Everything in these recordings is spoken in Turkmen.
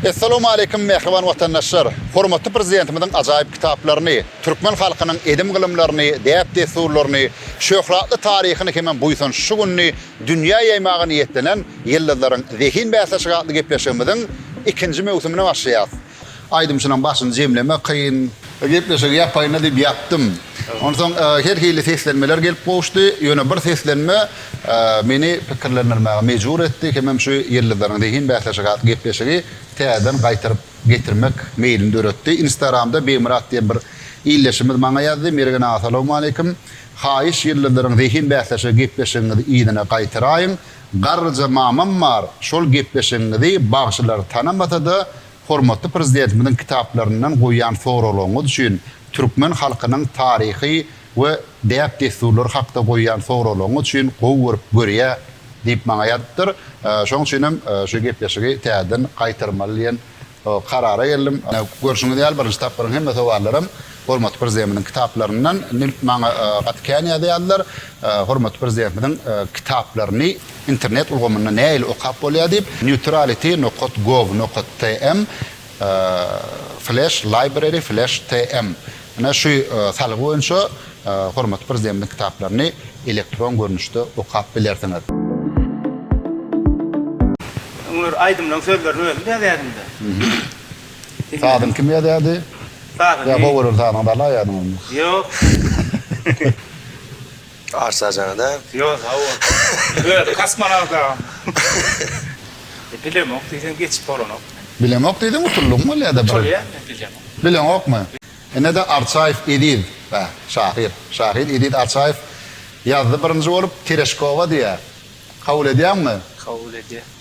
Essalamualeýkum mähriban watandaşlar! Hormatly Prezidentimiziň ajaýyp kitaplaryny, türkmen halkynyň edim-gylymlaryny, däp-dessurlaryny, şöhratly taryhyny hemem buýsanç şu gününi dünýä ýaýmaga niýetlenen Ýyldyzlaryň zehin bäsleşigi atly gepleşigimiziň ikinji möwsümine başlaýarys. Aýdymçynyň başyny jemlemek kyn. Gepleşigi ýapaýyna diýip ýapdym. Onsoň her hili seslenmeler gelip gowuşdy. Ýöne bir seslenme meni pikirlendirmäge mejbur etdi hemem şu Ýyldyzlaryň zehin bäsleşigi atly gepleşigi täzeden gaýtaryp getirmek meýlini döretdi. Instagramda Begmyrat diýen bir ildeşimiz maňa ýazdy, Mergen aga salawmaleýkim. Haýyş Ýyldyzlaryň zehin bäsleşigi gepleşigiňizi yzyna gaýtaraýyň. Garryja mamam bar, şol gepleşigiňizi bagşylar tanamasa-da Hormatly Prezidentimiziň kitaplaryndan goýýan soraglaryňyz üçin, türkmen halkynyň taryhy we däp-dessurlary hakda goýýan soraglaryňyz üçin gowy görüp görýä diýip maňa ýazypdyr. Şonuň üçin hem şu gepleşigi täzeden gaýtarmaly diýen karara geldim. Görşüňiz ýaly, birinji tapgyryň hemme sowallaram Hormatly Prezidentimiziň kitaplaryndan Nil maňa gaty kän ýazýardylar. Hormatly Prezidentimiziň kitaplaryny internet ulgamynda nähili okap bolýar diýip, Neutrality nokat gov nokat tm flash library flash tm ine şu salgy boýunça hormatly Prezidentimiziň kitaplaryny elektron görnüşde okap bilersiňiz. Öňler aýdymlaryň sözlerini özüm ýazýardym-da. Sazyň kim ýazýardy? Sazyň. Ýa gowy gören sazyňy bala ýazyň. Ýok. Arsajaňada. Ýok sag bol. Öz kosmonawtagam. Bilemok diýseň geçip bolanok. Bilemok diýseň utuldygyň bolýada bir. Utulýan men bilemok. Bileňokmy? Inede Arçaýew Eziz bä şahyr şahyr Eziz Arçaýew ýazdy birinji bolup Tereşkowa diýýär. Kabul edýäňmi? Kabul edýän.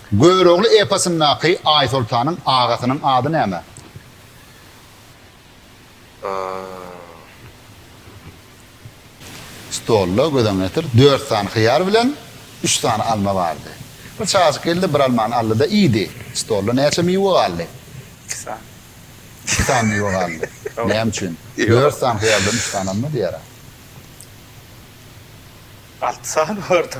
Görogly eposyndaky Aýsoltanyň agasynyň ady näme? Stolda, göz öňüne getir, dört sany hyýar bilen üç sany alma bardy. Bir çagajyk geldi-de, bir almany aldy-da, iýdi. Stolda näçe miwe galdy? Iki sany. Iki sany miwe galdy. Näme üçin? Dört sany hyýar bilen üç sany alma diýer-ä. Alty sany bardy.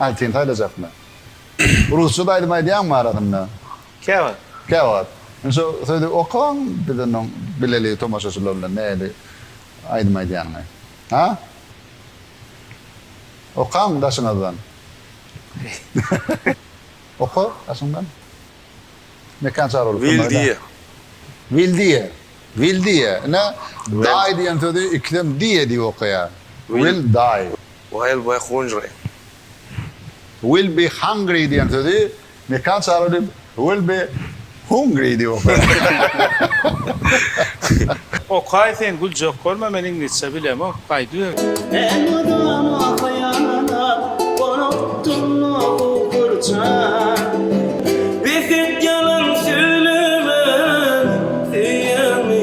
Aý sen saýlajakmy? Rusçada aýdym aýdýaňmy arasynda? Käwagt. Käwagt. Indi şo sözi okaň biz onda bileli tomaşaçylar bilen nähili aýdym aýdýanyňy. Ha? Okaň daşyňyzdan. Oka daşyňdan. Mekan çar bolup durma. Wildiýe. Wildiýe. Wildiýe. Ine daý diýen sözi ikisem diýe diýip okaýar. Wildaý. Will be hungry. Will be hungry diýen sözi Mekan çaga diýip will be hungry diýip okaýar. Okaý sen güljek bolma men iňlisçe bilemok gaýdyber. Men mydama haýalana gorupdym nogu gurjan. Bes et ýalan söýlemän söýýäňmi.